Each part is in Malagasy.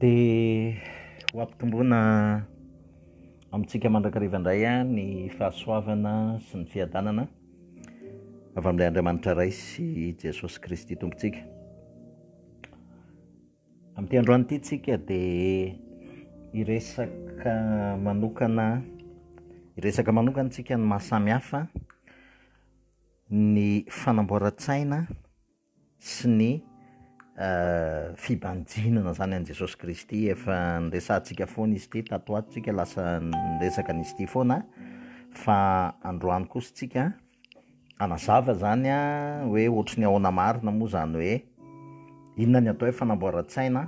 Dia ho ampitomboina amintsika mandrakariva indray ny fahasoavana sy ny fiadanana avy amin'ilay Andriamanitra Ray sy Jesosy Kristy Tompontsika. Amin'ity androany ity tsika dia hiresaka manokana hiresaka manokana tsika ny mahasamihafa ny fanamboaran-tsaina sy ny fibanjinana izany an'i Jesosy Kristy, efa niresahantsika foana izy ity tato ho ato, tsika lasa niresaka an'izy ity foana fa androany kosa tsika hanazava izany hoe ohatry ny ahoana marina moa izany hoe inona ny atao hoe fanamboaran-tsaina,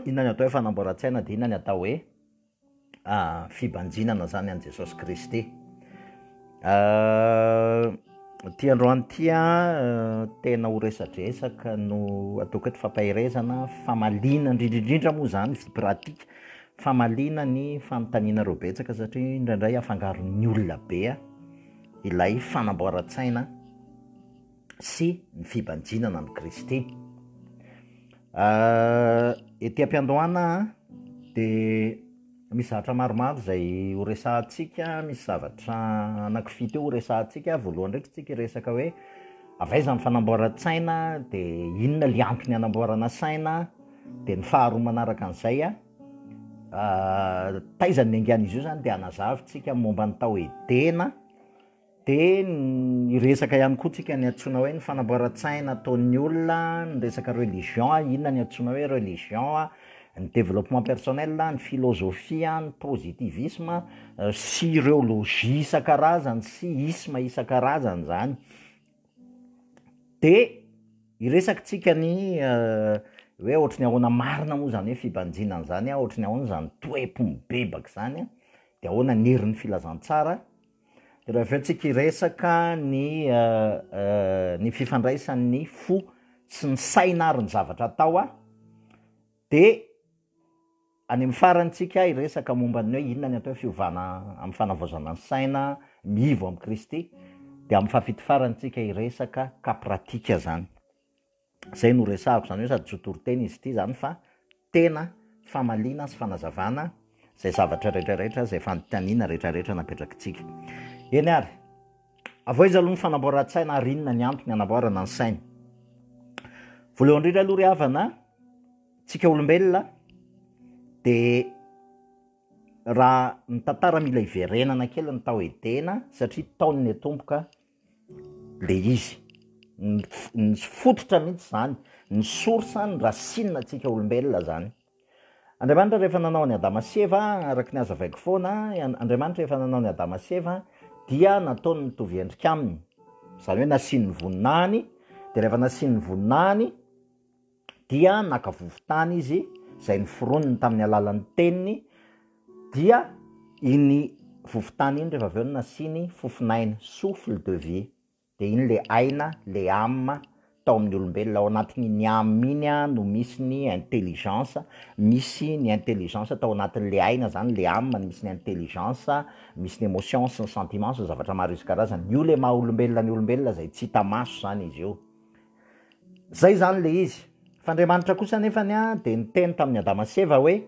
inona ny atao hoe fanamboaran-tsaina dia inona ny atao hoe. fibanjinana zany an'i Jesosy Kristy. Ity androany ity an, tena ho resadresaka no ataoko eto fampaherezana, famaliana indrindra indrindra moa zany vie pratique, famaliana ny fanontanianareo betsaka satria indraindray afangaron'ny olona be ilay fanamboaran-tsaina. sy ny fibanjinana amin'i Kristy. Ety am-piandohana dia misy zavatra maromaro izay ho resahantsika, misy zavatra anakifito eo ho resahantsika. Voalohany indray isika hiresaka hoe avy aiza ny fanamboaran-tsaina, dia inona ilay antony hanamboarana saina, dia ny faharoa manaraka an'izay taiza no niangan'izy io izany dia hanazava isika momba ny tao Edena, Dia hiresaka ihany koa tsika ny antsoina hoe ny fanamboaran-tsaina ataon'ny olona, ny resaka religion, inona ny antsoina hoe religion, ny développement personnel, ny philosophie, ny positivisme, sy ireo logies isan-karazany sy ismes isan-karazany izany. Dia hiresaka tsika ny hoe ohatry ny ahoana marina moa izany hoe fibanjina an'izany, ohatry ny ahoana izany toe-po mibebaka izany, dia ahoana ny herin'ny filazantsara, Raha avy eo tsika hiresaka ny ny fifandraisan'ny fo sy ny saina ary ny zavatra atao a, de any amin'ny farany tsika hiresaka momba ny hoe inona ny atao hoe fiovana amin'ny fanavaozana ny saina, mivo amin'i Kristy, de amin'ny fahafito farany tsika hiresaka cas pratique zany. Izay no resahako, izany hoe sady zotoriteny izy ity izany fa tena famaliana sy fanazavana izay zavatra rehetrarehetra, izay fanontaniana rehetrarehetra napetrakitsika. Eny ary, avoiza aloha ny fanamboaran-tsaina ary inona ny antony anamboarana ny saina? Voalohany indrindra aloha ry havana, tsika olombelona dia raha ny tantara mila hiverenana kely ny tao Edena satria tao no niatomboka le izy, ny ny fototra mihitsy zany, ny source, ny racine antsika olombelona zany. Andriamanitra rehefa nanao an'i Adama sy Eva, araka ny hazavaiko foana, Andriamanitra rehefa nanao an'i Adama sy Eva dia nataony mitovy endrika aminy, zany hoe nasiany ny voninahiny, de rehefa nasiany ny voninahiny, dia naka vovon-tany izy izay noforoniny tamin'ny alalan'ny teniny, dia iny vovon-tany iny rehefa avy eo no nasiany fofon'aina, souffle de vie, dia iny ilay aina, ilay âme tao amin'ny olombelona, ao anatin'iny âme iny no misy ny intelligence, misy ny intelligence tao anatin'ilay aina izany, ilay âme no misy ny intelligence, misy ny émotions sy ny sentiments sy ny zavatra maro isan-karazany, io ilay maha olombelona ny olombelona izay tsy hita maso izany izy io. Zay zany le izy. F'Andriamanitra kosa anefany a de niteny tamin'i Adama sy Eva hoe,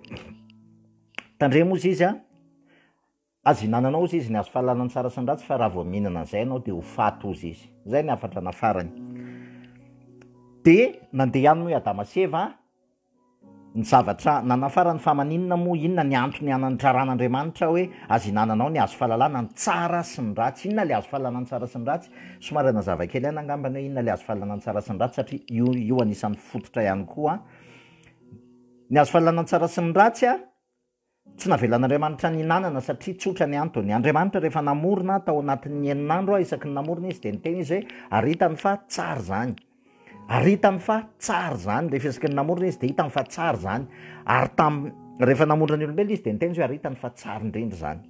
tandremo ozy izy a, azo ihinananao ozy izy ny hazo fahalalan'ny tsara sy ny ratsy fa raha vao mihinana an'zay ianao de ho faty ozy izy. Zay ny hafatra nafarany. De nandeha any moa i Adama sy Eva a. Ny zavatra nanafaran'ny fahamaninina moa inona? Ny antony anan'ny raran'Andriamanitra hoe azo ihinananao ny hazo fahalalana ny tsara sy ny ratsy. Inona ilay hazo fahalalana ny tsara sy ny ratsy? Somary hanazava kely aina angamba ny hoe inona ilay hazo fahalalana ny tsara sy ny ratsy satria io io anisan'ny fototra ihany koa. Ny hazo fahalalana ny tsara sy ny ratsy a! Tsy navelan'Andriamanitra nihinanana satria tsotra ny antony. Andriamanitra rehefa namorona ahy tao anatin'ny enin'andro aho isaky ny namorona izy dia niteny izy hoe ary hitany fa tsara izany. Ary hitany fa tsara izany. Rehefa isaky ny namorona izy dia hitany fa tsara izany. Ary tam rehefa namorona ny olombelona izy dia niteny izy hoe ary hitany fa tsara indrindra izany.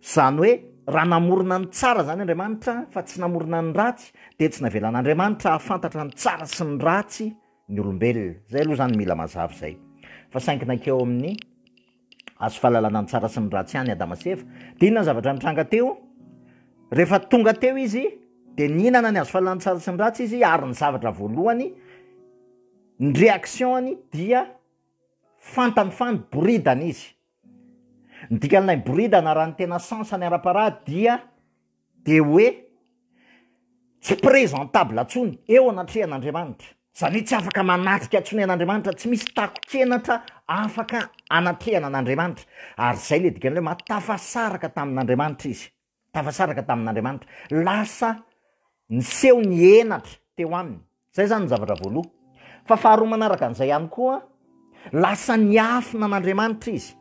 Izany hoe raha namorona ny tsara izany Andriamanitra fa tsy namorona ny ratsy dia tsy navelan'Andriamanitra hahafantatra ny tsara sy ny ratsy ny olombelona. Zay aloha zany mila mazava zay. Fa saingy nankeo amin'ny hazo fahalalana ny tsara sy ny ratsy ihany Adama sy Eva. De inona ny zavatra nitranga teo? Rehefa tonga teo izy de nihinana ny hazo fahalalana ny tsara sy ny ratsy izy ary ny zavatra voalohany ny réaction-ny dia fantany fa niboridana izy. Ny dikan'ilay boridana raha ny tena sens-ny ara-parady dia dia hoe tsy présentable intsony eo anatrehan'Andriamanitra, izany hoe tsy afaka manatrika intsony an'Andriamanitra, tsy misy takon-kenatra afaka anatrehana an'Andriamanitra, ary izay ilay dikan'ilay hoe mahatafasaraka tamin'Andriamanitra izy. tafasaraka tamin'Andriamanitra, lasa niseho ny henatra teo aminy. Izay izany ny zavatra voaloha. Fa faharoa manaraka an'izay ihany koa, lasa niafina an'Andriamanitra izy.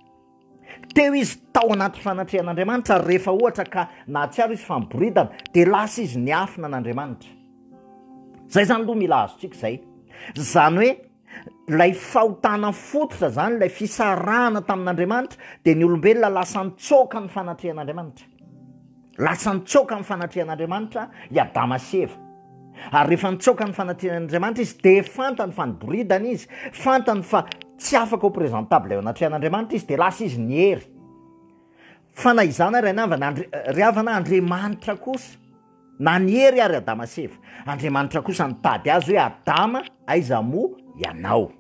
Teo izy tao anaty fanatrehan'Andriamanitra ary rehefa ohatra ka nahatsiaro izy fa miboridana, dia lasa izy niafina an'Andriamanitra. Izay izany aloha mila azontsika izay. Izany hoe. Ilay fahotana fototra izany, ilay fisarahana tamin'Andriamanitra, dia ny olombelona lasa nitsoaka ny fanatrehan'Andriamanitra. Lasa nitsoaka ny fanatrehan'Andriamanitra i Adama sy Eva. Ary rehefa nitsoaka ny fanatrehan'Andriamanitra izy, dia fantany fa niboridana izy, fantany fa tsy afaka ho presentable eo anatrehan'Andriamanitra izy, dia lasa izy niery. Fa na izany ary anavana, ry havana, Andriamanitra kosa, Na ny hery ary Adama sy Eva. Andriamanitra kosa nitady azy hoe Adama aiza moa ianao.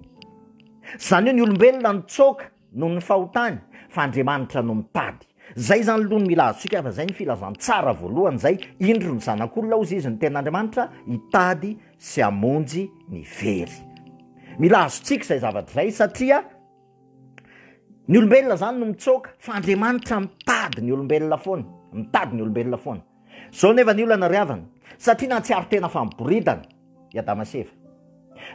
Tsy izany hoe ny olombelona nitsoaka noho ny fahotany fa Andriamanitra no mitady. Zay izany loha no mila azontsika fa zay ny filazantsara voalohany zay indro ny zanak'olona hozy izy ny tenin'Andriamanitra hitady sy hamonjy ny very. Mila azontsika izay zavatra izay satria ny olombelona zany no mitsoaka fa Andriamanitra mitady ny olombelona foana, mitady ny olombelona foana. Zao nefa ny olana ry havana, satria nahatsiaro tena fa miboridana i Adama sy Eva.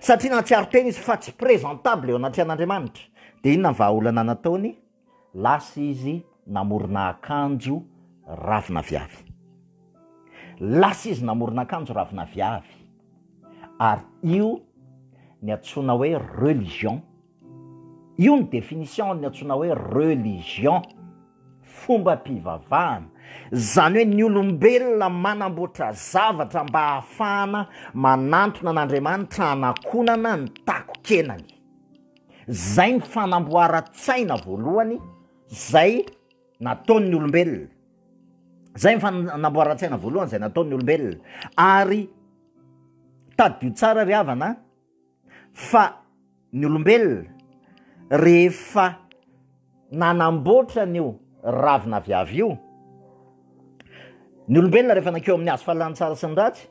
Satria nahatsiaro tena izy fa tsy présentable eo anatrehan'Andriamanitra. Dia inona ny vahaolana nataony? Lasa izy namorona akanjo ravin'aviavy. Lasa izy namorona akanjo ravin'aviavy. Ary io ny antsoina hoe religion Io ny définition ny antsoina hoe religion, fombam-pivavahana. Izany hoe ny olombelona manamboatra zavatra mba hahafahana manantona an'Andriamanitra hanakonana ny takon-kenany. Izay ny fanamboaran-tsaina voalohany izay nataon'ny olombelona. Izay ny fanamboaran-tsaina voalohany izay nataon'ny olombelona. Ary tadidio tsara ry havana an! fa ny olombelona rehefa nanamboatra an'io ravina viavy io, ny olombelona rehefa nankeo amin'ny hazo fahalalana tsara sy ny ratsy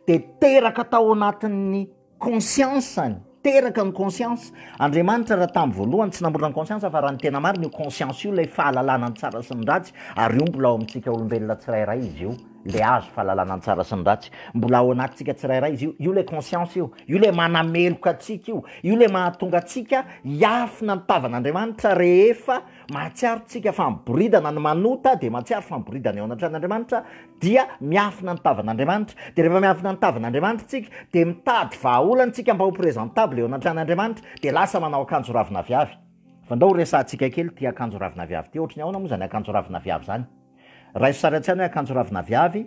de teraka tao anatin'ny conscience-ny, teraka ny conscience, Andriamanitra raha tamin'ny voalohany tsy namorona ny conscience fa raha ny tena marina io conscience io ilay fahalalana ny tsara sy ny ratsy ary io mbola ao amintsika olombelona tsirairay izy io. Ilay azo fahalalana ny tsara sy ny ratsy. Mbola ao anatintsika tsirairay izy io. Io ilay conscience io. Io ilay manameloka antsika io. Io ilay mahatonga antsika hiafina ny tavan'Andriamanitra rehefa mahatsiaro tsika fa miboridana ny manota dia mahatsiaro fa miboridana eo anatrehan'Andriamanitra dia miafina ny tavan'Andriamanitra. Dia rehefa miafina ny tavan'Andriamanitra tsika dia mitady vahaolana tsika mba ho presentable eo anatrehan'Andriamanitra dia lasa manao akanjo ravina viavy. Fa ndao ho resahantsika kely ity akanjo ravina viavy ity. Ohatry ny ahoana moa izany akanjo ravina viavy izany? Raiso sary an-tsaina hoe akanjo ravina viavy,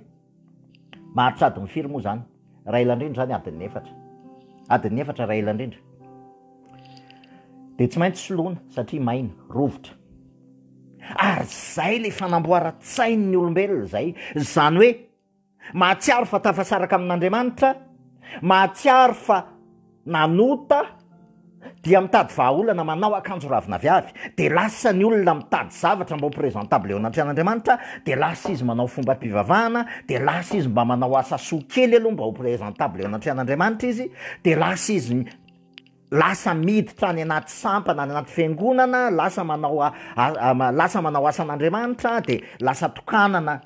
maharitra adiny firy moa izany? Raha ela indrindra izany adin'ny efatra. Adin'ny efatra raha ela indrindra. Dia tsy maintsy soloina satria maina, rovitra. Ary izay ilay fanamboaran-tsain'ny olombelona izay. Izany hoe Mahatsiaro fa tafasaraka amin'Andriamanitra, mahatsiaro fa nanota, dia mitady vahaolana, manao akanjo ravin'aviavy, dia lasa ny olona mitady zavatra mba ho présentable eo anatrehan'Andriamanitra, dia lasa izy manao fombam-pivavahana, dia lasa izy mba manao asa soa kely aloha mba ho présentable eo anatrehan'Andriamanitra izy, dia lasa izy lasa miditra any anaty sampana, any anaty fiangonana, lasa manao lasa manao asan'Andriamanitra, dia lasa tokanana.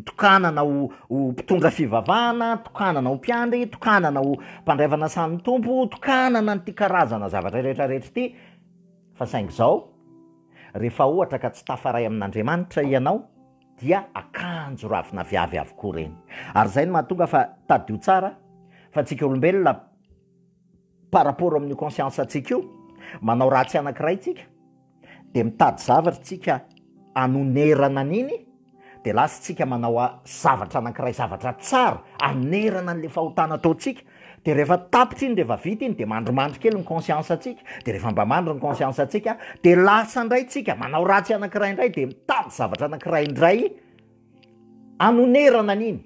tokanana ho ho mpitondra fivavahana, tokanana ho mpiandry, tokanana ho mpandray fanasan'ny Tompo, tokanana an'ity karazana zavatra rehetra rehetra ity, fa saingy izao, rehefa ohatra ka tsy tafaray amin'Andriamanitra ianao dia akanjo ravina viavy avokoa ireny, ary izay no mahatonga fa, tadidio tsara fa, antsika olombelona, Par rapport amin'io conscience antsika io, manao ratsy anankiray tsika, dia mitady zavatra tsika anonerana an'iny, dia lasa tsika manao zavatra anankiray, zavatra tsara, anonerana an'ilay fahotana ataontsika, dia rehefa tapitra iny, rehefa vita iny, dia mandrimandry kely ny conscience antsika, dia rehefa mba mandry ny conscience antsika, dia lasa indray tsika manao ratsy anankiray indray, dia mitady zavatra anankiray indray, Hanonerana an'iny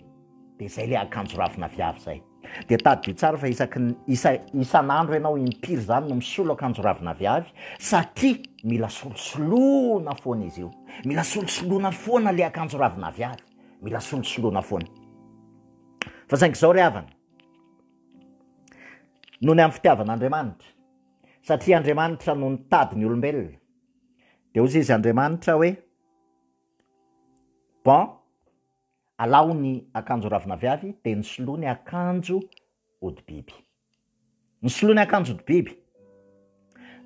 dia izay ilay akanjo ravin'aviavy izay. Dia tadidio tsara fa isaky ny, isa, isan'andro ianao impiry izany no misolo akanjo ravin'aviavy satria mila solosoloana foana izy io. Mila solosoloana foana ilay akanjo ravin'aviavy. Mila solosoloana foana. Fa saingy izao ry havana, noho ny amin'ny fitiavan'Andriamanitra, satria Andriamanitra no nitady ny olombelona, dia hoy izy Andriamanitra hoe, Bon, alao ny akanjo ravin'aviavy dia nisoloa ny akanjo hodi-biby. Nisoloa ny akanjo hodi-biby.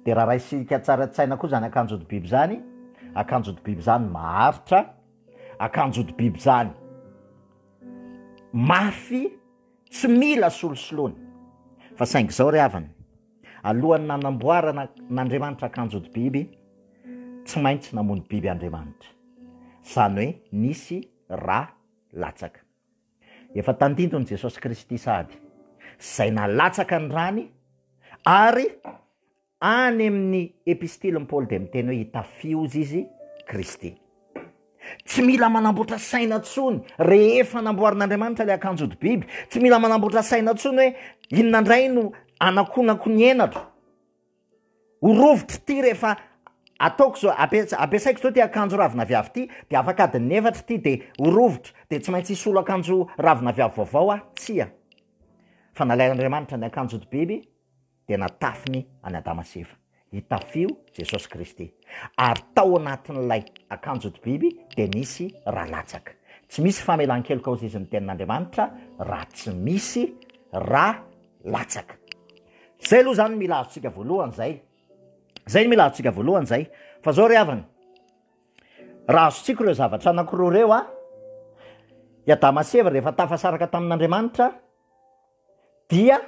Dia raha raisika tsara an-tsaina koa izany akanjo hodi-biby izany, akanjo hodi-biby izany maharitra, akanjo hodi-biby izany mafy, tsy mila solosoloana. Fa saingy izao ry havana, Alohan'ny nanamboarana n'Andriamanitra akanjon-biby, tsy maintsy namono biby Andriamanitra. Izany hoe nisy ra latsaka. Efa tandindon'i Jesosy Kristy sahady izay nalatsaka ny rany ary any amin'ny Epistilin'i Paoly dia miteny hoe hitafio-z izy Kristy. Tsy mila manamboatra saina intsony rehefa namboarin'Andriamanitra ilay akanjo hodi-biby. Tsy mila manamboatra saina intsony hoe inona indray no anakonako ny henatra. Ho rovitro ity rehefa ataoko izao, ampiasaiko izao ity akanjo ravin'aviavy ity, dia afaka adin'ny efatra ity dia ho rovitro, dia tsy maintsy hisolo akanjo ravin'aviavy vaovao aho. Tsia. Fa nalain'Andriamanitra ny akanjo hodi-biby. dia natafiny an'i Adama sy Eva. Itafio Jesosy Kristy. Ary tao anatin'ilay akanjo hodi-biby dia nisy ra latsaka. Tsy misy famelan-keloka hozizin'ny Tenin'Andriamanitra raha tsy misy ra latsaka. Izay aloha izany no mila azontsika voalohany izay. Izay no mila azontsika voalohany izay. Fa izao ry havana, raha azontsika ireo zavatra anankiroa ireo, i Adama sy Eva rehefa tafasaraka tamin'Andriamanitra, dia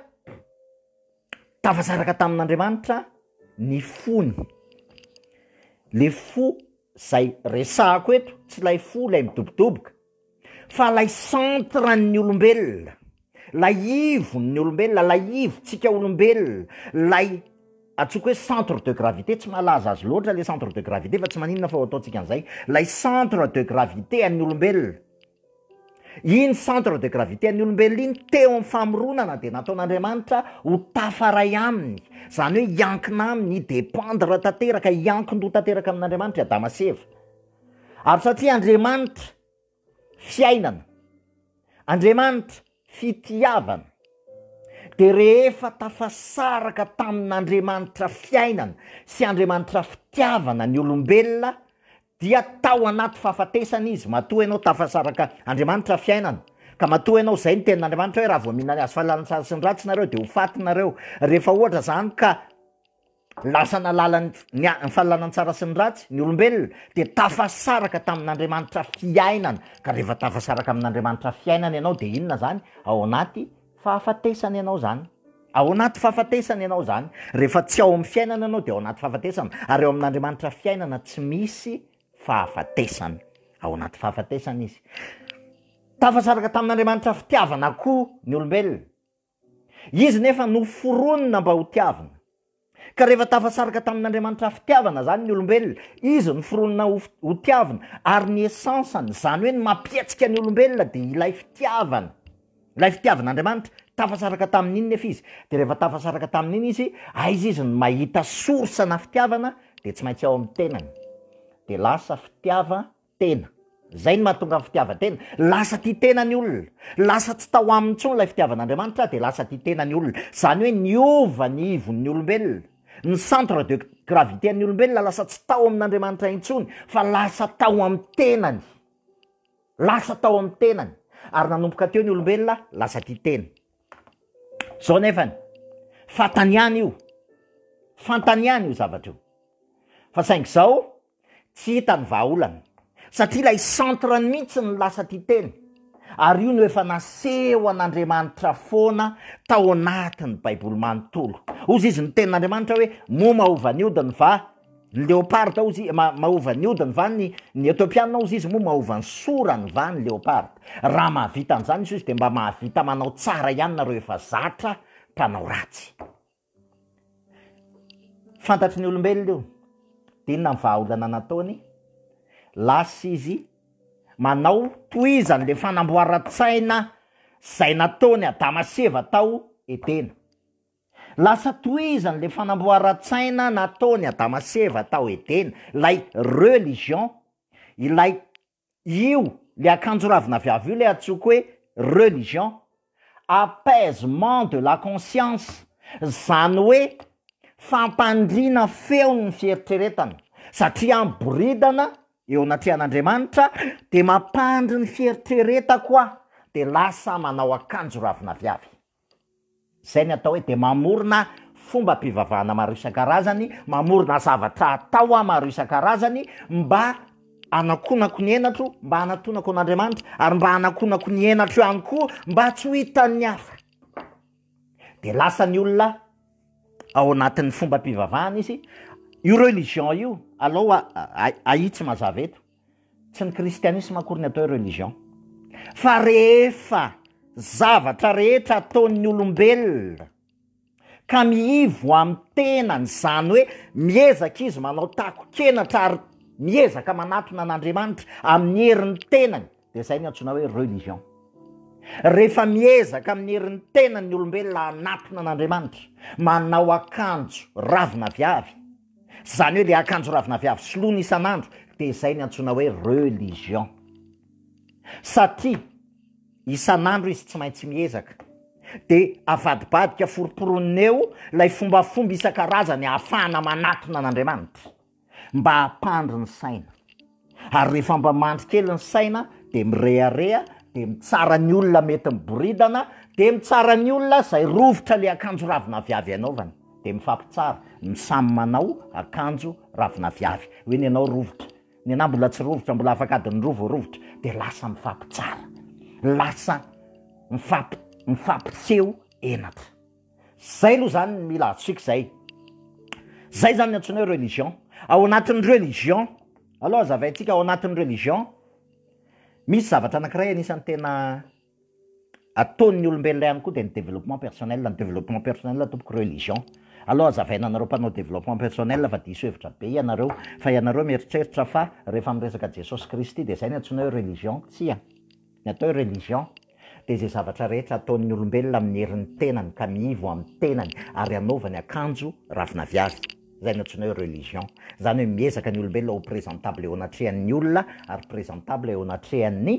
tafasaraka tamin'Andriamanitra ny fony, le fo zay resahako eto tsy lay fo lay midobodoboka fa lay centre-n'ny olombelona, lay ivon'ny olombelona, lay ivontsika olombelona, lay antsoiko hoe centre de gravité, tsy mahalaza azy loatra le centre de gravité fa tsy maninona fa ho ataontsika an'izay, lay centre de gravité an'ny olombelona, Iny centre de gravité an'ny olombelona iny teo amin'ny famoronana dia nataon'Andriamanitra ho tafaray aminy, izany hoe hiankina aminy, hi-dependre tanteraka, hiankin-doha tanteraka amin'Andriamanitra i Adama sy Eva. Ary satria Andriamanitra, fiainana, Andriamanitra, Fitiavana. Dia rehefa tafasaraka tamin'Andriamanitra fiainana sy Andriamanitra fitiavana ny olombelona dia tao anaty fahafatesana izy matoa ianao tafasaraka Andriamanitra fiainana ka matoa ianao izay ny tenin'Andriamanitra hoe raha vao mihinana ny hazo fahalalana ny tsara sy ny ratsy nareo dia ho faty nareo rehefa ohatra izany ka Lasa nahalala ny fahalanan-tsara sy ny ratsy ny olombelona dia tafasaraka tamin'Andriamanitra fiainana, ka rehefa tafasaraka amin'Andriamanitra fiainana ianao dia inona zany? Ao anaty fahafatesana ianao zany, ao anaty fahafatesana ianao zany, rehefa tsy ao amin'ny fiainana ianao dia ao anaty fahafatesana, ary ao amin'Andriamanitra fiainana tsy misy fahafatesana, ao anaty fahafatesana izy. Tafasaraka tamin'Andriamanitra fitiavana koa ny olombelona, Izy nefa noforonina mba ho tiavina. Ka rehefa tafasaraka tamin'Andriamanitra fitiavana izany ny olombelona, Izy noforonina ho ho tiavina, ary ny essence-ny, izany hoe ny mampietsika ny olombelona dia ilay fitiavana, ilay fitiavan'Andriamanitra, tafasaraka tamin'iny nefa izy, dia rehefa tafasaraka tamin'iny izy, aiza izy no mahita source-na fitiavana, dia tsy maintsy ao amin'ny tenany, dia lasa fitiava-. tena. Izay no mahatonga ny fitiavan-tena. Lasa tia tena ny olona. Lasa tsy tao aminy intsony ilay fitiavan'Andriamanitra dia lasa tia tena ny olona. Izany hoe niova ny ivon'ny olombelona. Ny centre de gravité an'ny olombelona lasa tsy tao amin'Andriamanitra intsony fa lasa tao amin'ny tenany. Lasa tao amin'ny tenany. Ary nanomboka teo ny olombelona lasa tia tena. Izao anefany, fantany ihany io. Fantany ihany io zavatra io. Fa saingy izao, Tsy hita ny vahaolana satria ilay centre-ny mihitsy no lasa tia teny ary io no efa nasehon'Andriamanitra foana tao anatin'ny baiboly manontolo. Hozy izy ny tenin'Andriamanitra hoe moa mahova ny odiny va ny leoparda hozy mahova ny odiny va ny ny Etiopiana hozy izy moa mahova ny sorany va ny leoparda. Raha mahavita an'izany izy hozy dia mba mahavita manao tsara ihany nareo efa zatra mpanao ratsy. Fantatry ny olombelona io, de inona ny vahaolana nataony? Lasa izy manao tohizany le fanamboaran-tsaina zay nataon'i Adama sy Eva tao Edena, lasa tohizany le fanamboaran-tsaina nataon'i Adama sy Eva tao Edena, ilay religion, ilay io le akanjo ravin'aviavy io le atsoiko hoe religion, apaisement de la conscience, zany hoe fampandriana feon'ny fieritreretana, satria aho miboridana eo anatrehan'Andriamanitra de mampandry ny fieritreretako aho de lasa manao akanjo ravin'aviavy. Izay ny atao hoe dia mamorona fombam-pivavahana maro isan-karazany, mamorona zavatra atao maro isan-karazany mba hanakonako ny henatro, mba hanatonako an'Andriamanitra, ary mba hanakonako ny henatro ihany koa mba tsy ho hitan'ny hafa. Dia lasa ny olona ao anatin'ny fombam-pivavahana izy, io religion io aloha ahitsy mazava eto. Tsy ny kristianisma akory ny atao hoe religion fa rehefa zavatra rehetra ataon'ny olombelona ka miivo amin'ny tenany, izany hoe miezaka izy manao takon-kenatra ary miezaka manatona an'Andriamanitra amin'ny herin'ny tenany dia izay ny antsoina hoe religion. Rehefa miezaka amin'ny herin'ny tenany ny olombelona hanatona an'Andriamanitra, manao akanjo ravina viavy, Zany hoe le akanjo ravina viavy soloina isan'andro de zay ny antsoina hoe religion. Satria isan'andro izy tsy maintsy miezaka de avadibadika foroporonin'ny eo lay fombafomba isan-karazany ahafahana manatona an'Andriamanitra mba hampandry ny saina. ary rehefa mba mandry kely ny saina dia mirehareha dia mitsara ny olona mety miboridana dia mitsara ny olona izay rovitra le akanjo ravinaviavy anaovany dia mifampitsara ny samy manao akanjo ravinaviavy hoe ny anao rovitra ny anao mbola tsy rovitra mbola afaka adin'ny roa vao rovitra dia lasa mifampitsara lasa mifampi- mifampiseho henatra Zay aloha zany ny mila antsika zay. Zay zany ny antsoina hoe religion. Ao anatin'ny religion aloha azavaintsika ao anatin'ny religion misy zavatra anankiray anisan'ny tena ataon'ny olombelona ihany koa dia ny développement personnel, ny développement personnel tompoko religion. Aloha azavaina anareo mpanao développement personnel fa diso hevitra be ianareo fa ianareo mieritreritra fa rehefa miresaka Jesosy Kristy dia zay ny antsoina hoe religion, tsia, ny atao hoe religion. dia izay zavatra rehetra ataon'ny olombelona amin'ny herin'ny tenany ka miivo amin'ny tenany ary anaovany akanjo ravin'aviavy, izay no antsoinay hoe religion. Izany hoe miezaka ny olombelona ho presentable eo anatrehan'ny olona ary presentable eo anatrehan'ny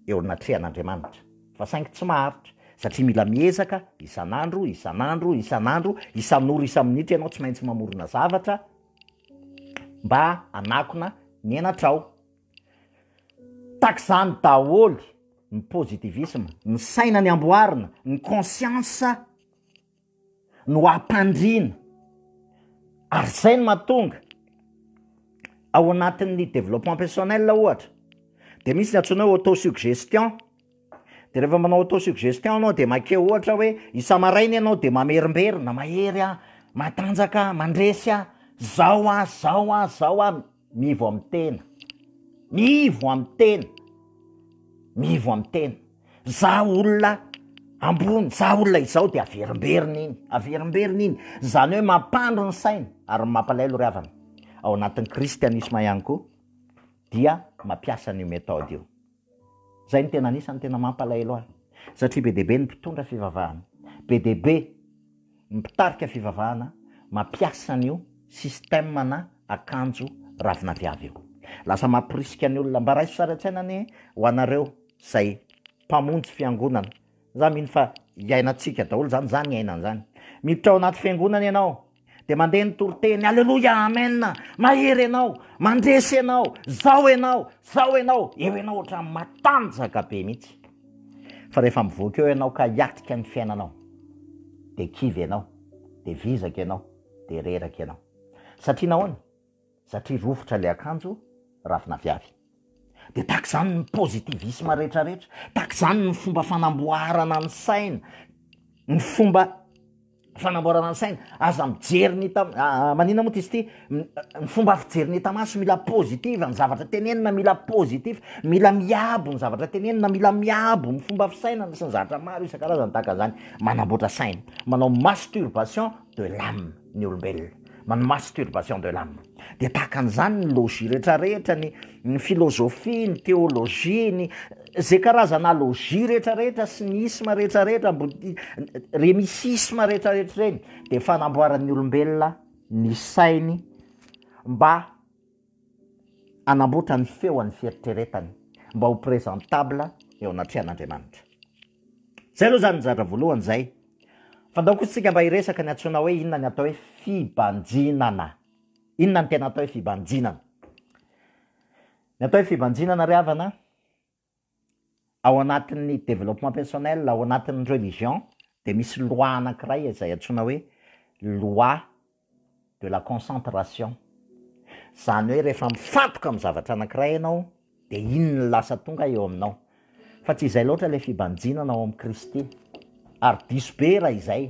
eo anatrehan'Andriamanitra. Fa saingy tsy maharitra, satria mila miezaka isan'andro, isan'andro, isan'andro, isan'ora, isa-minitra ianao tsy maintsy mamorona zavatra mba hanakona ny henatrao. Tahaka izany daholo ny positivisme, ny saina ny amboarina, ny conscience no ampandriana ary izay no mahatonga ao anatin'ny développement personnel ohatra dia misy ny antsoina hoe auto-suggestion. De rehefa manao auto suggestion anao de makeo ohatra hoe isa-maraina ianao de mamerimberina, mahery aho, matanjaka aho, mandresy aho, zao aho, zao aho, zao aho, mivo amin'ny tena, mivo amin'ny tena, mivo amin'ny tena, za olona ambony, za olona izao de averimberina iny, averimberina iny, zany hoe mampandry ny saina, ary ny mampalaelo ry havana ao anatin'ny kristianisma ihany koa dia mampiasa an'io méthode io. Zay no tena anisany tena mampalahelo ahy satria be dia be ny mpitondra fivavahana, be dia be ny mpitarika fivavahana mampiasa an'io système na akanjo ravin'aviavy io. Lasa mamporisika ny olona. Mba raiso sary an-tsaina anie ho anareo zay mpamonjy fiangonana. Za mino fa iainantsika daholo zany, za niaina an'zany. Miditra ao anaty fiangonana ianao Dia mandeha ny toriteny, Aleloia, Amen, mahery ianao, mandresy ianao, zao ianao, zao ianao, eo ianao ohatran'ny matanjaka be mihitsy. Fa rehefa mivoaka eo ianao ka hiatrika ny fiainanao, dia kivy ianao, dia vizaka ianao, dia reraka ianao. Satria nahoana? satria rovitra ilay akanjo ravin'aviavy. Dia tahaka izany ny positivisme rehetrarehetra, tahaka izany ny fomba fanamboarana ny saina, ny fomba fanamboarana ny saina, aza mijery ny hita maninona moa ty izy ity, ny fomba fijery ny hita maso mila positive ny zavatra tenenina, mila positive, mila miabo ny zavatra tenenina, mila miabo ny fomba fisainana sy ny zavatra maro isan-karazany tahaka an'izany, manamboatra saina, manao masturbation de l'ame. ny olombelona, manao masturbation de l'âme. Dia tahaka an'izany ny logis rehetrarehetra, ny ny filozofia, ny teolojia, ny izay karazana logis rehetrarehetra sy ny isma rehetrarehetra, bouddhi- ireny isisma rehetrarehetra ireny dia fanamboaran'ny olombelona ny sainy mba. hanamboatra ny feo an'ny fieritreretany mba ho presentable eo anatrehan'Andriamanitra. Izay aloha izany ny zatra voalohany izay. Fa ndao kosa isika mba hiresaka ny antsoina hoe inona ny atao hoe fibanjinana. Inona ny tena atao hoe fibanjinana? Ny atao hoe fibanjinana ry havana ao anatin'ny développement personnel, ao anatin'ny religion dia misy loi anakiray izay antsoina hoe loi de la concentration, izany hoe rehefa mifantoka amin'ny zavatra anakiray ianao dia iny no lasa tonga eo aminao, fa tsy izay loatra ilay fibanjinana ao amin'i Kristy, ary diso be raha izay,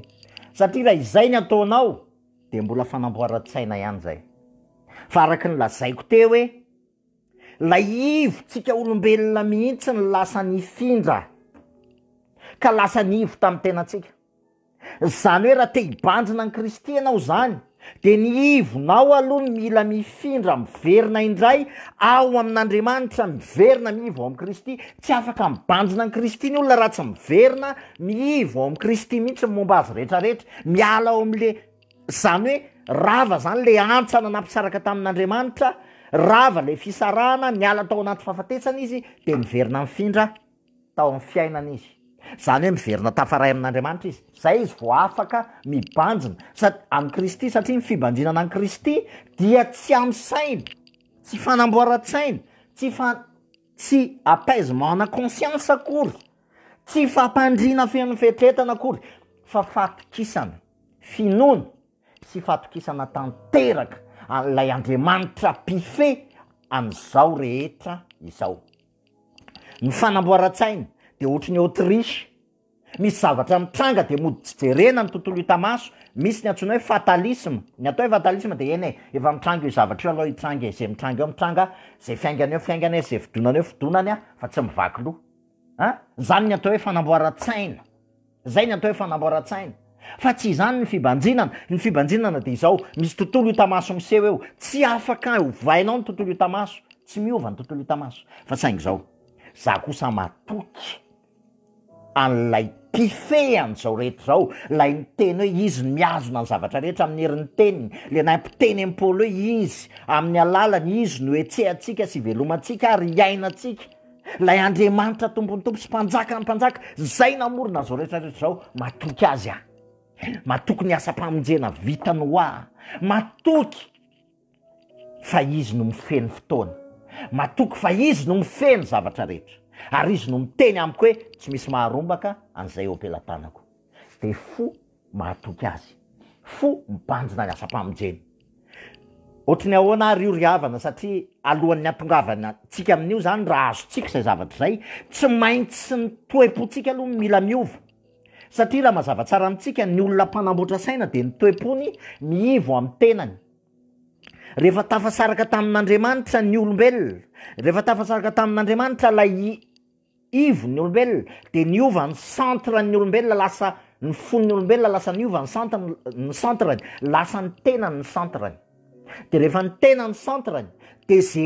satria raha izay no ataonao dia mbola fanamboaran-tsaina ihany izay, fa araka ny lazaiko teo hoe Laivotsika olombelona mihitsy no lasa nifindra ka lasa nivo tamin'ny tenantsika. Izany hoe raha te hibandrina an'i Kristy ianao izany dia ny ivonao aloha no mila mifindra miverina indray ao amin'Andriamanitra, miverina mivo ao amin'i Kristy. Tsy afaka mibandrina an'i Kristy ny olona raha tsy miverina mivo ao amin'i Kristy mihitsy ny momba azy rehetrarehetra, miala ao amin'le Izany hoe rava izany ilay hantsana nampisaraka tamin'Andriamanitra, rava ilay fisarahana, niala tao anaty fahafatesana izy dia niverina nifindra tao amin'ny fiainana izy. Izany hoe miverina tafaray amin'Andriamanitra izy. Izay izy vao afaka mibanjina sa- amin'i Kristy satria ny fibanjinana an'i Kristy dia tsy amin'ny saina, tsy fanamboaran-tsaina, tsy fa- tsy apaisement-na conscience akory Tsy fampandriana feno fetretana akory fa fatokisana, finoana sy fatokisana tanteraka an'ilay Andriamanitra mpifehy an'izao rehetra izao. Ny fanamboaran-tsaina dia ohatry ny Autriche, misy zavatra mitranga dia mody tsy jerena ny tontolo hita maso, misy ny antsoina hoe fatalisme, ny atao hoe fatalisme dia eny e, efa mitranga io zavatra io aloha hitranga e, izay mitranga eo mitranga, izay fiaingana eo fiaingana e, izay fidonana eo fidonana fa tsy mivaky loha. a, zany ny atao hoe fanamboaran-tsaina, zay ny atao hoe fanamboaran-tsaina fa tsy izany ny fibanjinana, ny fibanjinana dia izao, misy tontolo hita maso miseho eo, tsy afaka ovainao ny tontolo hita maso, tsy miova ny tontolo hita maso fa saingy izao, za kosa matoky an'ilay mpifehy an'izao rehetra izao, ilay miteny hoe izy no mihazona ny zavatra rehetra amin'ny herin'ny teniny, le nahay mpiteny an'i Paoly hoe izy amin'ny alalany izy no ihetsehantsika sy ivelomantsika ary iainantsika, Ilay Andriamanitra Tompon'ny Tompo sy Mpanjakan'ny Mpanjaka izay namorona izao rehetra rehetra izao, matoky Azy aho. Matoky ny asam-pamonjena vitany ho ahy. Matoky fa Izy no mifehy ny fotoana. Matoky fa Izy no mifehy ny zavatra rehetra. Ary Izy no miteny amiko hoe tsy misy maharombaka an'izay eo am-pelatanako. Dia fo mahatoky azy. Fo mibanjina ny asam-pamonjena. Ohatry ny ahoana ary io ry havana satria alohan'ny hatongavantsika amin'io zany raha azontsika izay zavatra izay, tsy maintsy ny toe-pontsika aloha no mila miova. Satria raha mazava tsara amintsika, ny olona mpanamboatra saina dia ny toe-pony miivo amin'ny tenany. Rehefa tafasaraka tamin'Andriamanitra ny olombelona, rehefa tafasaraka tamin'Andriamanitra ilay ivo ny olombelona de niova ny centre ny olombelona lasa ny fon'ny olombelona lasa niova ny centre ny centre-ny lasa ny tenany ny centre-ny de rehefa ny tena ny centre-ny de ze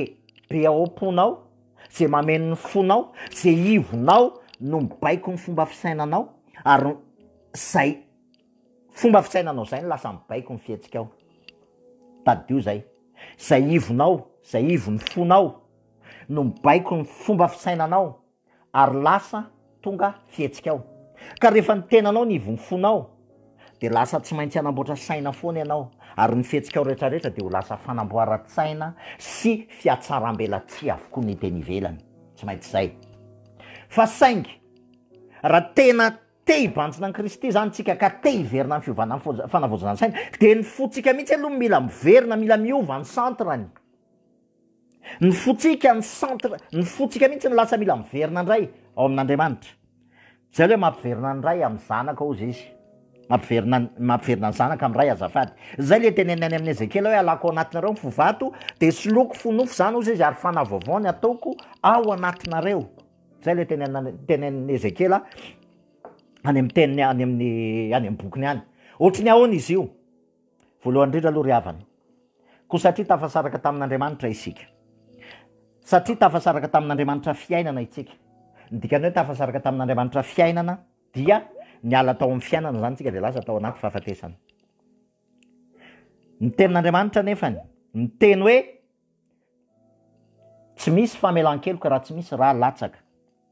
be ao am-ponao ze mameno ny fonao ze ivonao no mibaiko ny fomba fisainanao ary zay fomba fisainanao zay no lasa mibaiko ny fihetsikao tadidio zay zay ivonao zay ivon'ny fonao no mibaiko ny fomba fisainanao ary lasa tonga fihetsikao. Ka rehefa ny tenanao no ivon'ny fonao dia lasa tsy maintsy hanamboatra saina foana ianao ary ny fihetsikao rehetrarehetra dia ho lasa fanamboaran-tsaina sy fihatsaram-belatsihy avokoa ny teny ivelany. Tsy maintsy izay. Fa saingy, raha tena te hibanjina an'i Kristy izany isika ka te hiverina amin'ny fiovana fanavaozana saina dia ny fontsika mihitsy aloha no mila miverina, mila miova ny centre-ny. Ny fontsika ny centre ny fontsika mihitsy no lasa mila miverina indray ao amin'Andriamanitra. Zay le mampiverina ny ray amin'ny zanaka hozy izy. Mampiverina ny mampiverina ny zanaka amin'ny ray azafady. Zay le teneniny any amin'ny Ezekiela hoe halako ao anatinareo ny fo vato de soloiko fo nofo zany hozy izy ary fanahy vaovao ny ataoko ao anatinareo. Zay le tenenina tenenin'i Ezekiela any amin'ny teniny any amin'ny any amin'ny bokiny any. Ohatry ny ahoana izy io? Voalohany indrindra aloha ry havana, koa satria tafasaraka tamin'Andriamanitra isika, satria tafasaraka tamin'Andriamanitra fiainana itsika, ny dikan'ny hoe tafasaraka tamin'Andriamanitra fiainana dia niala tao amin'ny fiainana izany tsika dia lasa tao anaty fahafatesana. Ny tenin'Andriamanitra anefany miteny hoe tsy misy famelan-keloka raha tsy misy ra latsaka,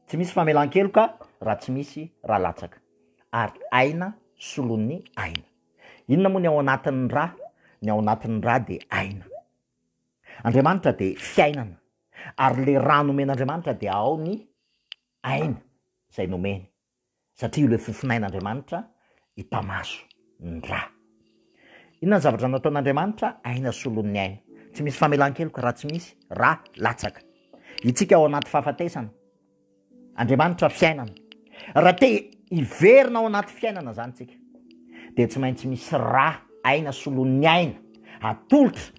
tsy misy famelan-keloka raha tsy misy ra latsaka, ary aina solon'ny aina. Inona moa ny ao anatin'ny ra? Ny ao anatin'ny ra dia aina. Andriamanitra dia fiainana, ary ilay ra nomen'Andriamanitra dia ao ny aina izay nomeny, satria io ilay fofonain'Andriamanitra hitamaso ny ra. Inona ny zavatra nataon'Andriamanitra? Aina solon'ny aina. Tsy misy famelan-keloka raha tsy misy ra latsaka. Isika ao anaty fahafatesana. Andriamanitra fiainana. Raha te hiverina ao anaty fiainana zany tsika dia tsy maintsy misy ra aina solon'ny aina atolotra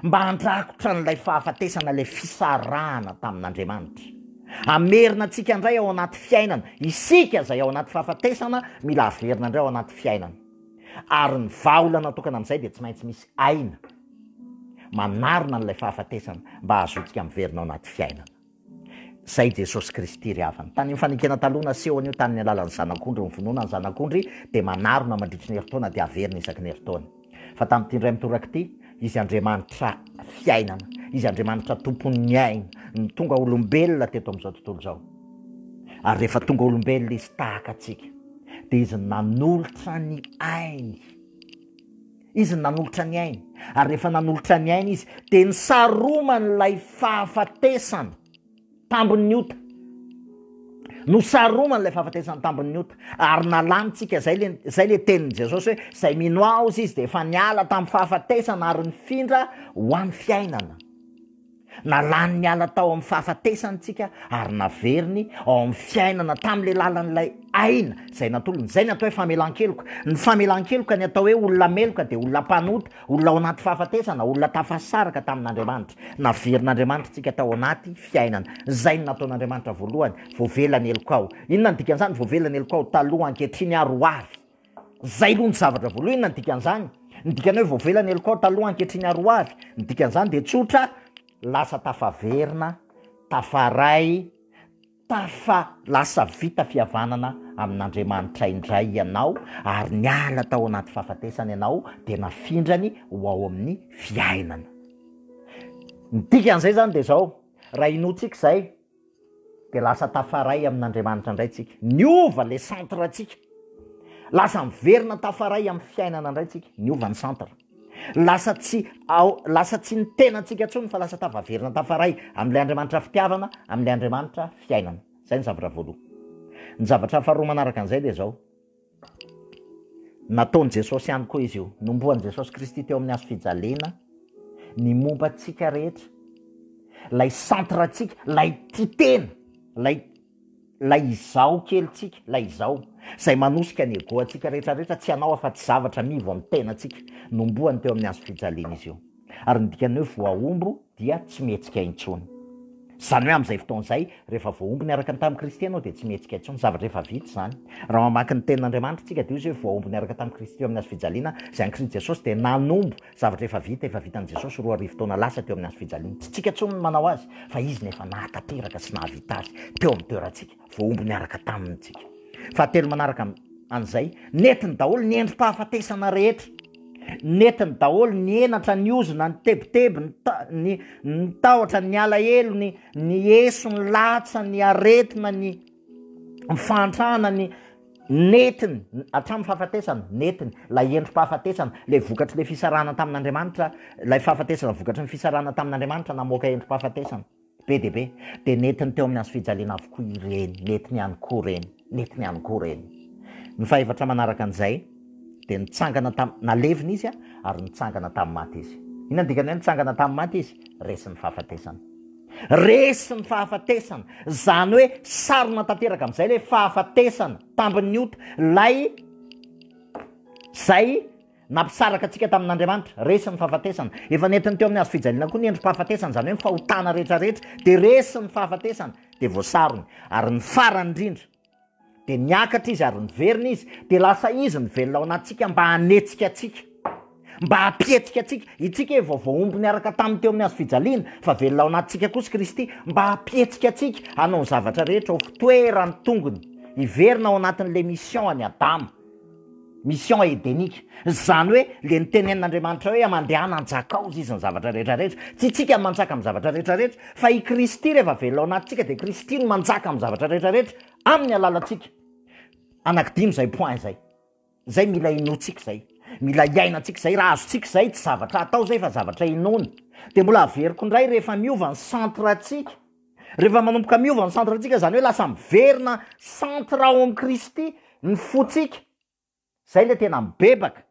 mba handrakotra an'ilay fahafatesana ilay fisarahana tamin'Andriamanitra. Amerina antsika indray ao anaty fiainana. Isika izay ao anaty fahafatesana mila averina indray ao anaty fiainana. Ary ny vahaolana tokana amin'izay dia tsy maintsy misy aina manarona an'ilay fahafatesana mba hahazoantsika miverina ao anaty fiainana. Zay Jesosy Kristy ry havana. Tany amin'ny fanekena taloha naseho an'io tany ny alalan'ny zanak'ondry, ny vonoana ny zanak'ondry dia manarona mandritry ny herintaona dia averina isaky ny herintaona. Fa tamin'ity indray mitoraka ity, Izy Andriamanitra fiainana, Izy Andriamanitra tompon'ny aina no tonga olombelona teto amin'izao tontolo izao. Ary rehefa tonga olombelona Izy tahaka antsika, dia Izy nanolotra ny ainy. Izy nanolotra ny ainy, ary rehefa nanolotra ny ainy izy, dia nisaromany ilay fahafatesana tambin'ny ota. Nosaromany ilay fahafatesana tambin'ny ota, ary nalanintsika izay le izay le tenin'i Jesosy hoe izay mino Aho izy dia efa niala tamin'ny fahafatesana ary nifindra ho amin'ny fiainana. Nalany niala tao amin'ny fahafatesany isika ary naveriny ao amin'ny fiainana tamin'ilay lalan'ilay aina izay natolony. Izay ny atao hoe famelan-keloka. Ny famelan-keloka, ny atao hoe olona meloka dia olona mpanota, olona ao anaty fahafatesana, olona tafasaraka tamin'Andriamanitra. Naverin'Andriamanitra antsika tao anaty fiainana. Izay no nataon'Andriamanitra voalohany, voavela ny helokao. Inona no dikan'izany voavela ny helokao? Taloha, ankehitriny ary ho avy. Zay aloha ny zavatra voalohany, inona ny dikan'izany? Ny dikany hoe voavela ny LCOT aloha ankehitriny ary ho avy, ny dikan'izany dia tsotra, lasa tafaverina, tafaray, tafa lasa vita fihavanana amin'Andriamanitra indray ianao ary niala tao anaty fahafatesana ianao dia nafindrany ho ao amin'ny fiainana. Ny dikan'izay zany dia zao, raha inoantsika izay, dia lasa tafaray amin'Andriamanitra indray tsika, niova le centre tsika, lasa miverina tafaray amin'ny fiainana indray tsika, niova ny centre, lasa tsy ao, lasa tsy ny tenantsika intsony fa lasa tafaverina tafaray amin'ilay Andriamanitra fitiavana, amin'ilay Andriamanitra fiainana. Izay ny zavatra voaloha. Ny zavatra faharoa manaraka an'izay dia izao. Nataon'i Jesosy ihany koa izy io. Nombohan'i Jesosy Kristy teo amin'ny hazo fijaliana ny momba antsika rehetra. Ilay centre antsika, ilay tia tena, ilay ilay izaho kelintsika, ilay izaho, izay manosika ny ego antsika rehetra rehetra, tsy anao afa-tsy zavatra anivo amin'ny tenantsika. Nombohany teo amin'ny hazo fijaliana izy io. Ary ny dikan'ny hoe voahombo dia tsy mihetsika intsony. Izany hoe amin'izay fotoana izay, rehefa voahombo niaraka ny tamin'i Kristy ianao, dia tsy mihetsika intsony. Zavatra efa vita izany. Raha mamaky ny Tenin'Andriamanitra isika, dia hoy izy hoe, Voahombo niaraka tamin'i Kristy teo amin'ny hazo fijaliana izay an'i Kristy Jesosy, dia nanombo zavatra efa vita, efa vitan'i Jesosy roa arivo taona lasa teo amin'ny hazo fijaliana. Tsy isika intsony no manao azy, fa Izy no efa nahatanteraka sy nahavita azy teo amin'ny toerantsika. Voahombo niaraka Taminy isika. Fahatelo manaraka an'izay, nentiny daholo ny endri-pahafatesana rehetra. Nentiny daholo ny henatra, ny ozona, ny tebiteby, ny ta- ny ny tahotra, ny alahelo, ny ny eso, ny latsa, ny aretina, ny ny fahantrana, ny Nentiny hatramin'ny fahafatesana, nentiny ilay endri-pahafatesana, ilay vokatry le fisarahana tamin'Andriamanitra, ilay fahafatesana vokatry ny fisarahana tamin'Andriamanitra namoaka endri-pahafatesana. Be dia be. Dia nentiny teo amin'ny hazofijaliana avokoa ireny. Nentiny ihany koa ireny. Nentiny ihany koa ireny. Ny fahefatra manaraka an'izay dia nitsangana tam-, nalevina izy ary nitsangana tamin'ny maty izy. Inona no dikan'ny hoe nitsangana tamin'ny maty izy? Resy ny fahafatesana. Resy ny fahafatesana. Izany hoe sarona tanteraka amin'izay ilay fahafatesana, tambin'ny ota, ilay izay Nampisaraka antsika tamin'Andriamanitra. Resy ny fahafatesana. Efa nentiny teo amin'ny hazo fijaliana koa ny endri-pahafatesana, izany hoe ny fahotana rehetra rehetra, dia resy ny fahafatesana, dia voasarony. Ary ny farany indrindra, dia niakatra izy ary niverina izy, dia lasa izy ny velona ao anatintsika mba hanetsika antsika, mba hampihetsika antsika. Itsika efa voahombo niaraka taminy teo amin'ny hazo fijaliana, fa velona ao anatintsika kosa Kristy, mba hampihetsika antsika hanao ny zavatra rehetra ho toeran'ny tongony, hiverina ao anatin'ilay mission an'i Adama. Mission edenique. Izany hoe le nitenenin'Andriamanitra hoe mandehana hanjaka ao izy ny zavatra rehetra rehetra. Tsy itsika no manjaka amin'ny zavatra rehetra rehetra fa i Kristy rehefa velona ao anatintsika dia Kristy no manjaka amin'ny zavatra rehetra rehetra amin'ny alalantsika. Anakidimy izay point izay. Izay mila inoantsika izay. Mila iainantsika izay. Raha azontsika izay tsy zavatra atao izay fa zavatra inoana. Dia mbola averiko indray rehefa miova ny centre-ntsika. Rehefa manomboka miova ny centre ntsika izany hoe lasa miverina centre ao amin'i Kristy ny fontsika, izay ilay tena mibebaka.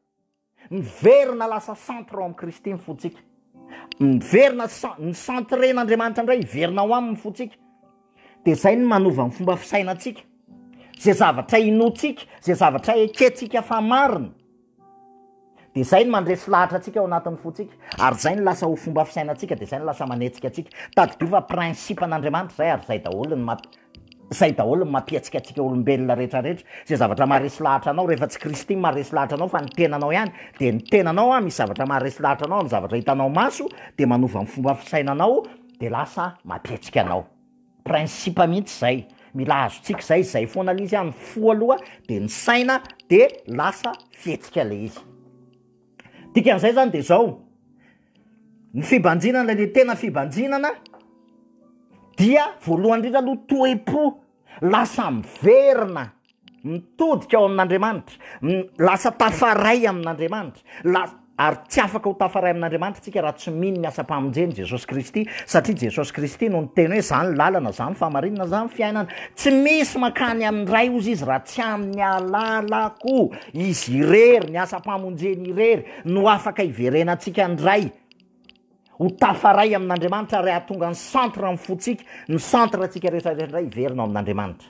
Miverina lasa centre ao amin'i Kristy ny fontsika. Miverina cen- ny centren'Andriamanitra indray hiverina ao aminy ny fontsika. Dia izay no manova ny fomba fisainantsika, izay zavatra inoantsika, izay zavatra ekentsika fa marina. Dia izay no mandresy lahatra antsika ao anatin'ny fontsika. Ary izay no lasa ho fomba fisainantsika, dia izay no lasa manetsika antsika. Tadidio fa principe-n'Andriamanitra izay ary izay daholo no mamp- izay daholo no mampihetsika antsika olombelona rehetrarehetra. Izay zavatra maharesy lahatra anao rehefa tsy Kristy no maharesy lahatra anao fa ny tenanao ihany, dia ny tenanao an, misy zavatra maharesy lahatra anao amin'ny zavatra hitanao maso, dia manova ny fomba fisainanao, dia lasa mampihetsika anao. principe mihitsy zay, mila azontsika zay, zay foana le izy an, ny fo aloha de ny saina de lasa fihetsika le izy, dikan'izay zany de zao, ny fibanjinana le tena fibanjinana dia voalohany indrindra aloha toe-po lasa miverina. Mitodika ao amin'Andriamanitra. M, lasa tafaray amin'Andriamanitra. La, ary tsy afaka ho tafaray amin'Andriamanitra isika raha tsy mino ny asam-pamonjen'i Jesosy Kristy, satria Jesosy Kristy no niteny hoe, Za ny lalana, Za ny fahamarinana, Za ny fiainana. Tsy misy mankany amin'ny Ray, hozy Izy, raha tsy amin'ny alalako. Izy irery, ny asam-pamonjeny irery, no afaka hiverenantsika ny Ray. Ho tafaray amin'Andriamanitra ary hahatonga ny centre ny fontsika, ny centre antsika rehetra rehetra indray hiverina ao amin'Andriamanitra.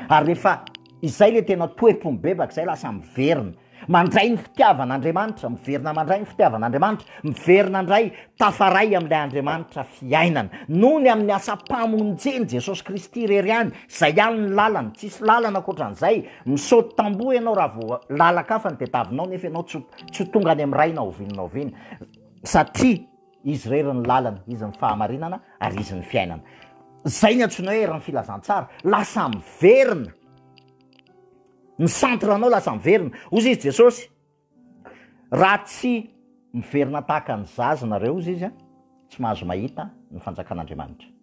Ary rehefa izay le tena toepo mibebaka izay lasa miverina mandray ny fitiavan'Andriamanitra, miverina mandray ny fitiavan'Andriamanitra, miverina indray tafaray amin'ilay Andriamanitra fiainana. Noho ny amin'ny asam-pamonjeny Jesosy Kristy irery ihany, izay ihany ny lalany, tsisy lalana ankoatran'izay, misaoty tamboho ianao raha vao lalak'afa no tadiavinao nefa ianao tsy ho tsy ho tonga any amin'ny Ray na oviana na oviana. Satria Izy irery ny lalana, Izy ny fahamarinana, ary Izy ny fiainana. Izay ny antsoina hoe herin'ny filazantsara. Lasa miverina. Ny centre anao lasa miverina. Hozy izy Jesosy, raha tsy miverina tahaka ny zaza nareo, hozy izy, tsy mahazo mahita ny fanjakan'Andriamanitra.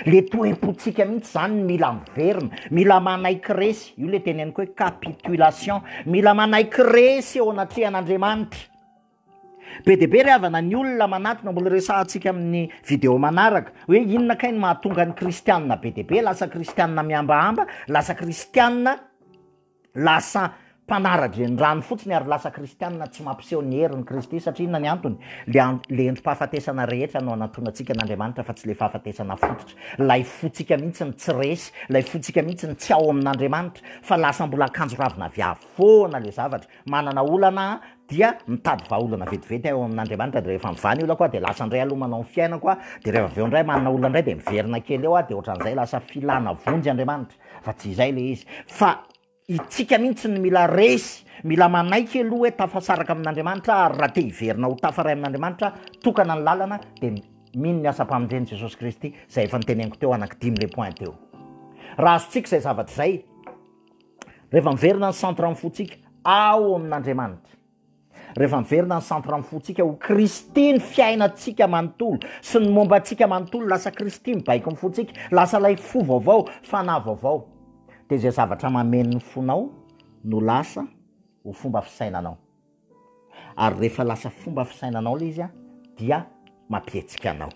Le toem-pontsika mihitsy zany ny mila miverina, mila manaiky resy, io le teneniko hoe capitulation, mila manaiky resy eo anatrehan'Andriamanitra. Be dia be ry havana ny olona manatona, mbola resahantsika amin'ny video manaraka, hoe inona kay no mahatonga ny kristianina be dia be lasa kristianina mihambahamba, lasa kristianina lasa mpanara-drenirano fotsiny ary lasa kristianina tsy mampiseho ny herin'i Kristy, satria inona ny antony? Ilay an- ilay endri-pahafatesana rehetra no anantonantsika an'Andriamanitra fa tsy ilay fahafatesana fototra, ilay fontsika mihitsy no tsy resy, ilay fontsika mihitsy no tsy ao amin'Andriamanitra fa lasa mbola akanjo ravina viavy foana ilay zavatra, manana olana dia mitady vahaolana vetivety eo amin'Andriamanitra dia rehefa mivany olako aho dia lasa indray aloha manao ny fiainako aho dia rehefa avy eo indray manana olona indray dia miverina kely eo aho dia ohatran'izay lasa filana vonjy Andriamanitra fa tsy izay ilay izy fa itsika mihitsy ny mila resy mila manaiky aloha hoe tafasaraka amin'Andriamanitra ary raha te hiverina ho tafaray amin'Andriamanitra tokana ny lalana dia mino ny asam-pamindreny Jesosy Kristy izay efa noteneniko teo anaky dimy le point teo raha azontsika izay zavatra izay Rehefa miverina ny centre amin'ny fontsika ao amin'Andriamanitra, rehefa miverina ny centre amin'ny fontsika ho Kristy ny fiainantsika manontolo sy ny momba antsika manontolo, lasa Kristy mibaiko amin'ny fontsika, lasa ilay fo vaovao, fanahy vaovao, dia izay zavatra mameno ny fonao no lasa ho fomba fisainanao. Ary rehefa lasa fomba fisainanao ilay izy dia mampihetsika anao.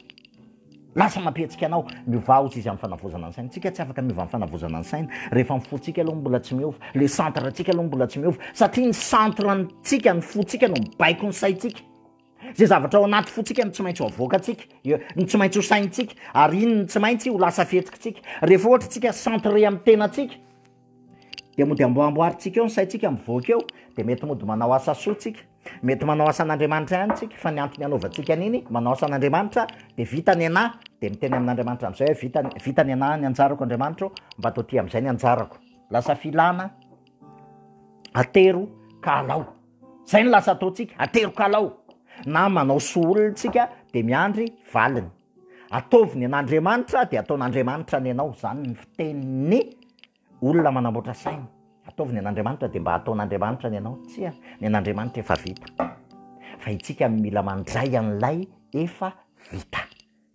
Lasa mampihetsika anao. Miovà hozy izy amin'ny fanavaozana ny saina. Tsika tsy afaka miova amin'ny fanavaozana ny saina rehefa ny fontsika aloha mbola tsy miova, ilay centre ntsika aloha mbola tsy miova satria ny centre ntsika, ny fontsika no mibaiko ny saintsika. Izay zavatra ao anaty fontsika no tsy maintsy ho avoakantsika, no tsy maintsy ho saintsika ary iny no tsy maintsy ho lasa fihetsikitsika. Rehefa ohatra tsika centre amin'ny tenantsika, Dia mody amboamboarintsika eo ny saintsika mivoaka eo, dia mety mody manao asa soa tsika, mety manao asa an'Andriamanitra ihany tsika, fa ny antony anaovantsika an'iny, manao asa an'Andriamanitra, dia vita ny anah, dia miteny amin'Andriamanitra amin'izay hoe vita ny, vita ny anah, ny anjarako Andriamanitra o, mba toa ty amin'izay ny anjarako, lasa filana, atero ka alao, zay no lasa ataontsika, atero ka alao, na manao soa olona tsika dia miandry valiny. Ataovy ny an'Andriamanitra dia ataon'Andriamanitra ny anao, izany ny fitenin'ny olona manamboatra saina. Ataovy ny an'Andriamanitra dia mba ataon'Andriamanitra ny anao, tsia, ny an'Andriamanitra efa vita. Fa itsika no mila mandray an'ilay efa vita.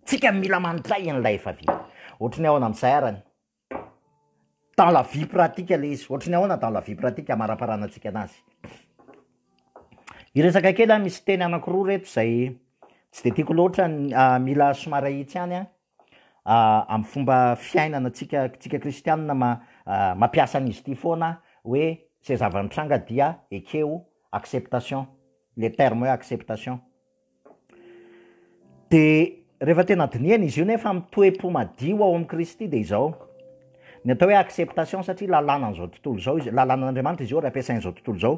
Tsika no mila mandray an'ilay efa vita. Ohatry ny ahoana amin'izay arany? dans la vie pratique le izy, ohatry ny ahoana dans la vie pratique amaraparana antsika anazy. Hiresaka kely aho, misy teny anakiroa reto izay tsy dia tiako loatra, mila somary ahitsy ihany an, amin'ny fomba fiainana antsika antsika kristianina ma- mampiasa an'izy ity foana hoe izay zava-nitranga dia ekeo, acceptation, le terme hoe acceptation. Dia rehefa tena dinihana izy io nefa amin'ny toe-po madio ao amin'i Kristy dia izao, ny atao hoe acceptation satria lalànan'izao tontolo izao izy, lalànan'Andriamanitra izy io ary ampiasain'izao tontolo izao,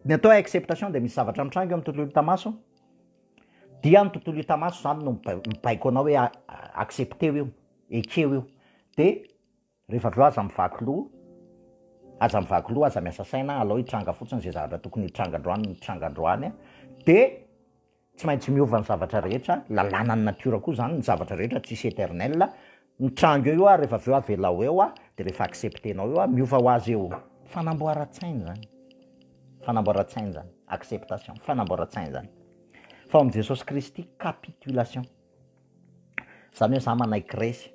ny atao hoe acceptation dia misy zavatra mitranga eo amin'ny tontolo hita maso dia ny tontolo hita maso izany no mibaiko anao hoe accepteo io, ekeo io, dia. Rehefa avy eo aza mivaky loha, aza mivaky loha, aza miasa saina, alao hitranga fotsiny izay zavatra tokony hitranga androany no hitranga androany a! dia tsy maintsy miova ny zavatra rehetra, lalanan'ny natiora koa izany, ny zavatra rehetra tsisy eternel, mitranga eo io ary rehefa avy eo avelao eo a! dia rehefa accepter-nao eo a! miova ho azy eo, fanamboaran-tsaina izany, fanamboaran-tsaina izany, acceptation, fanamboaran-tsaina izany, fa ao amin'i Jesosy Kristy, capitulation. Izany hoe izaho manaiky resy.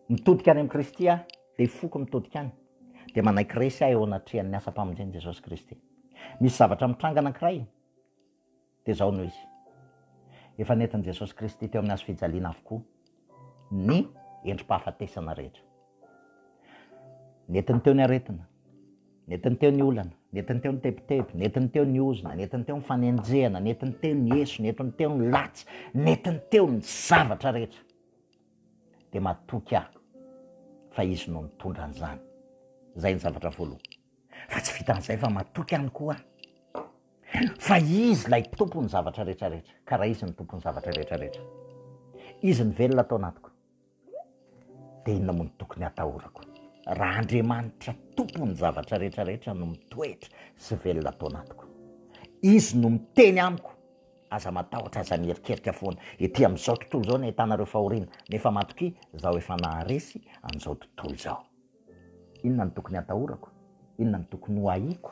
Mitodika any amin'i Kristy aho, ilay foko mitodika any, dia manaiky resy aho eo anatrehan'ny asam-pamonjen'i Jesosy Kristy. Misy zavatra mitranga anankiray, dia izao no izy, efa nentin'i Jesosy Kristy teo amin'ny hazofijaliana avokoa ny endri-pahafatesana rehetra. Nentiny teo ny aretina, nentiny teo ny olana, nentiny teo ny tebiteby, nentiny teo ny ozona, nentiny teo ny fanenjehana, nentiny teo ny eso, nentiny teo ny latsy, nentiny teo ny zavatra rehetra. Dia matoky aho fa izy no nitondra an'izany. Izay ny zavatra voalohany. Fa tsy vitan'izay fa matoky ihany koa aho fa izy ilay tompon'ny zavatra rehetra rehetra, ka raha izy no tompon'ny zavatra rehetra rehetra, izy ny velona ato anatiko. Dia inona moa no tokony hatahorako, raha Andriamanitra Tompon'ny zavatra rehetra rehetra no mitoetra sy velona ato anatiko? Izy no miteny amiko, Aza matahotra, aza miherikerika foana. Ety amin'izao tontolo izao no ahitana ireo fahoriana, nefa matokia, Izaho efa naharesy an'izao tontolo izao. Inona no tokony hatahorako? Inona no tokony hoahiako?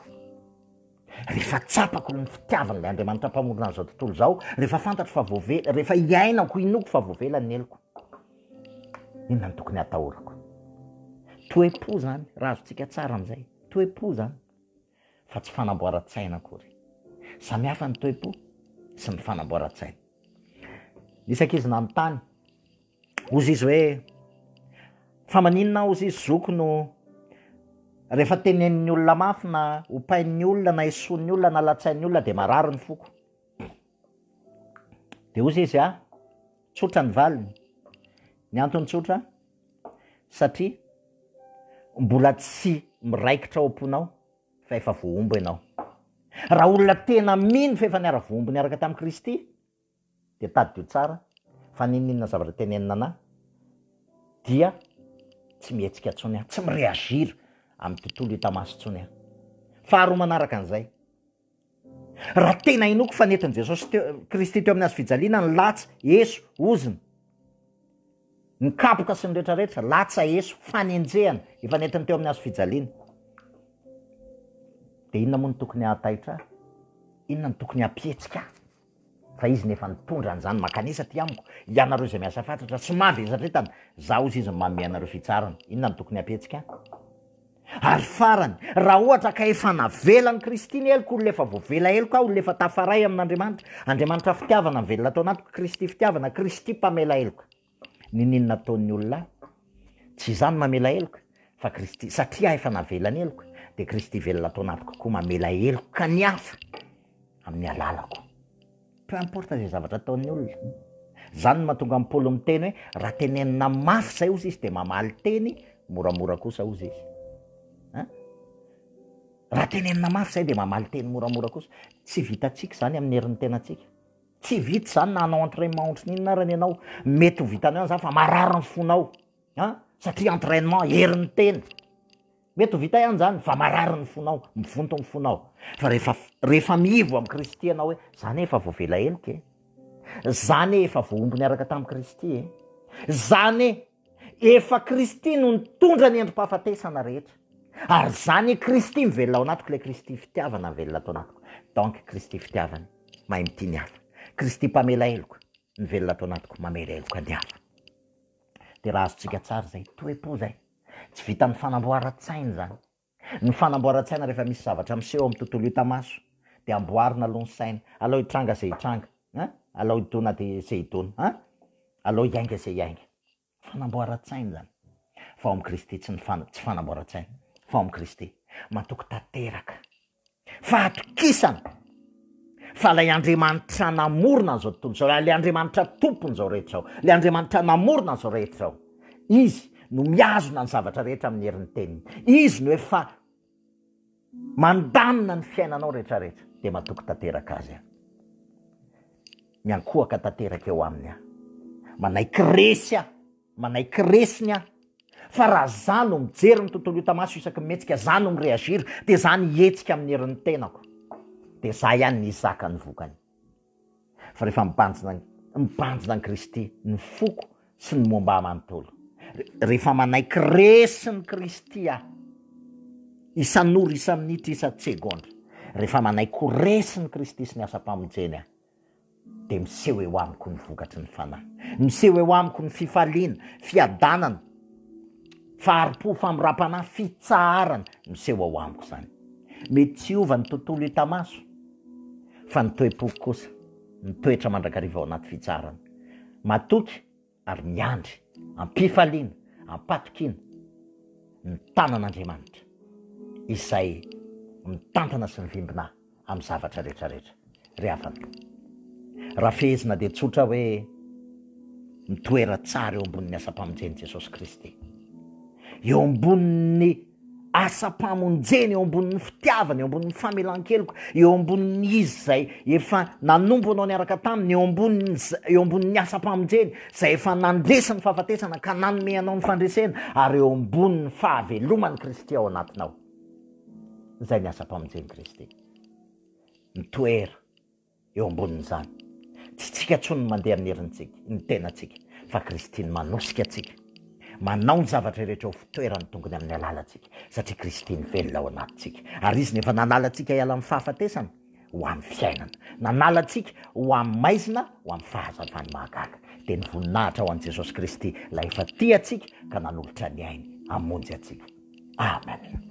Rehefa tsapako ny fitiavan'ilay Andriamanitra Mpamorona an'izao tontolo izao, rehefa fantatro fa voavela, rehefa hiainako, inoako fa voavela ny heloko, inona no tokony hatahorako? Toe-po izany, raha azontsika tsara amin'izay, toe-po izany fa tsy fanamboaran-tsaina akory. Samy hafa ny toe-po sy ny fanamboaran-tsaina. Nisy ankizy nanontany, Hozy izy hoe, Fa maninona aho hozy izy zoky no rehefa tenenin'ny olona mafy na ompain'ny olona na esoin'ny olona na latsain'ny olona dia marary ny foko? Dia hozy izy, Ah, tsotra ny valiny. Ny antony tsotra, satria mbola tsy miraikitra ao am-ponao fa efa voahombo ianao. Raha olona tena mino fa efa niara-voahombo niaraka tamin'i Kristy, dia tadidio tsara fa n'inon'inona zavatra tenenina anà dia tsy mihetsika intsony aho, tsy mi-reagir amin'ny tontolo hita maso intsony aho. Faharoa manaraka an'izay, raha tena inoako fa nentin'i Jesosy teo, Kristy teo amin'ny hazo fijaliana ny latsa, eso, ozona, ny kapoka sy ny rehetrarehetra, latsa, eso, fanenjehana efa nentiny teo amin'ny hazo fijaliana, dia inona moa no tokony hahataitra ahy? Inona no tokony hampihetsika ahy? Fa izy nefa nitondra an'izany makanisa aty amiko, ianareo izay miasa fatratra sy mavesatra entana, za ozy izy no manome anareo fitsarana. Inona no tokony hapetsika an? Ary farany, raha ohatra ka efa navela an'i Kristy ny heloko, olona efa voavela heloka aho, olona efa tafaray amin'Andriamanitra, Andriamanitra fitiavana nivelona tao anatiko, Kristy fitiavana, Kristy mpamela heloka. Niniana ataon'ny olona ahy? Tsy izaho no mamela heloka, fa Kristy. Satria aho efa navela ny heloka, dia Kristy velona ato anatiko koa mamela heloka ny hafa amin'ny alalako. Peu importe izay zavatra ataon'ny olona. Izany no mahatonga an'i Paoly miteny hoe, raha tenenina mafy izay, hozy izy, dia mamaly teny moramora kosa, hozy izy. Hein? Raha tenenina mafy izay, dia mamaly teny moramora kosa. Tsy vitantsika izany amin'ny herin'ny tenantsika. Tsy vita izany na hanao entrainement ohatran'ny inona arany ianao, mety ho vitanao ihany izany fa marary ny fonao an, satria entrainement herin'ny tena, mety ho vita ihany izany fa marary ny fonao, mivonto ny fonao, fa rehefa rehefa miivo amin'i Kristy ianao hoe za anie efa voavela heloka e, za anie efa voahombo niaraka tamin'i Kristy e, za anie. Efa Kristy no nitondra ny endri-pahafatesana rehetra. Ary izany i Kristy mivelona ao anatiko, ilay Kristy fitiavana mivelona ato anatiko. Donc Kristy fitiavana, mahay mitia ny hafa. Kristy mpamela heloka, mivelona ato anatiko, mamela heloka ny hafa. Dia raha azontsika tsara izay, toe-po izay. Tsy vitan'ny fanamboaran-tsaina izany. Ny fanamboaran-tsaina rehefa misy zavatra miseho amin'ny tontolo hita maso dia amboarina aloha ny saina, alao hitranga izay hitranga an! alao hidona dia izay hidona an! alao hiainga izay hiainga. Fanamboaran-tsaina izany fa ao amin'i Kristy tsy ny tsy fanamboaran-tsaina fa ao amin'i Kristy. Matoky tanteraka. Fahatokisana fa ilay Andriamanitra namorona an'izao tontolo izao, ilay Andriamanitra tompon'izao rehetra izao, ilay Andriamanitra namorona an'izao rehetra izao, izy no mihazona ny zavatra rehetra amin'ny herin'ny teniny, izy no efa mandamina ny fiainanao rehetra rehetra, dia matoky tanteraka azy aho. Miankohaka tanteraka eo aminy aho. Manaiky resy aho. Manaiky resy ny ahy fa raha za no mijery ny tontolo hita maso isaky ny mihetsika, za no mi-reagir dia za ny hihetsika amin'ny herin'ny tenako dia za ihany ny hizaka ny vokany. Fa rehefa mibanjina mibanjina an'i Kristy ny foko sy ny momba ahy manontolo, rehefa manaiky resy ny Kristy aho isan'ora, isa-minitra, isa-tsegondra, rehefa manaiky ho resy ny Kristy sy ny asam-pamonjeny aho, dia miseho eo amiko ny vokatry ny fanahy. Miseho eo amiko ny fifaliana, fiadanana, fahari-po, famindram-panahy, fitsaharana, miseho ao amiko izany. Mety tsy hiova ny tontolo hita maso, fa ny toe-poko kosa mitoetra mandrakariva ao anaty fitsaharana. Matoky ary miandry am-pifaliana, am-patokiana ny tanan'Andriamanitra izay mitantana sy mivimbina amin'ny zavatra rehetrarehetra. Ry havana, raha fehezina dia tsotra hoe mitoera tsara eo ambonin'ny asam-pamonjen'i Jesosy Kristy, eo ambonin'ny. asam-pamonjena, eo ambonin'ny fitiavana, eo ambonin'ny famelan-keloka, eo ambonin'ny izy izay efa nanompo anao niaraka taminy, eo ambonin'ny eo ambonin'ny asam-pamonjeny izay efa nandresy ny fahafatesana ka nanome anao ny fandresena ary eo ambonin'ny fahaveloman'i Kristy ao anatinao. Izay ny asam-pamonjen'i Kristy. Mitoera. Eo ambonin'izany, tsy isika intsony no mandeha amin'ny herintsika, ny tenantsika, fa Kristy no manosika antsika, manao ny zavatra rehetra ho fitoeran'ny tongony amin'ny alalantsika, satria Kristy no velona ao anatintsika, ary Izy no efa nanala antsika hiala amin'ny fahafatesana ho amin'ny fiainana, nanala antsika ho amin'ny maizina ho amin'ny fahazavan'ny mahagaga. Dia ny voninahitra ho an'i Jesosy Kristy, Ilay efa tia antsika ka nanolotra ny ainy hamonjy antsika. Amen.